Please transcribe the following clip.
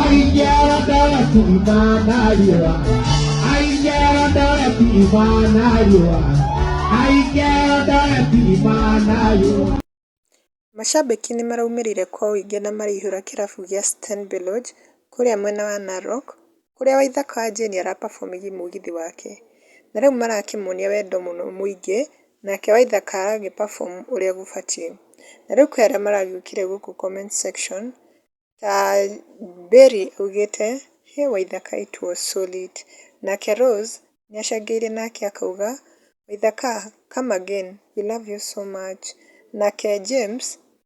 Aigera ndarati imana riũa Aigera ndarati imana riũa Aigera ndarati imana riũa Mashabĩki nĩ maraumĩrire kwa ũingĩ na maraihũra kĩrabu gĩa Stenbeloge kũrĩa mwena wa Narok kũrĩa waithaka wa Jane ara perform gĩ mũgithi wake, na rĩu marakĩmuonia wendo mũno mũingĩ, nake waithaka agĩ perform ũrĩa gũbatiĩ. Na rĩu kwĩ arĩa maragĩũkire gũkũ comment section, ta Berry augĩte, hĩ waithaka it was so lit, nake Rose nĩ acangĩire nake akauga, waithaka come again, we love you so much, nake James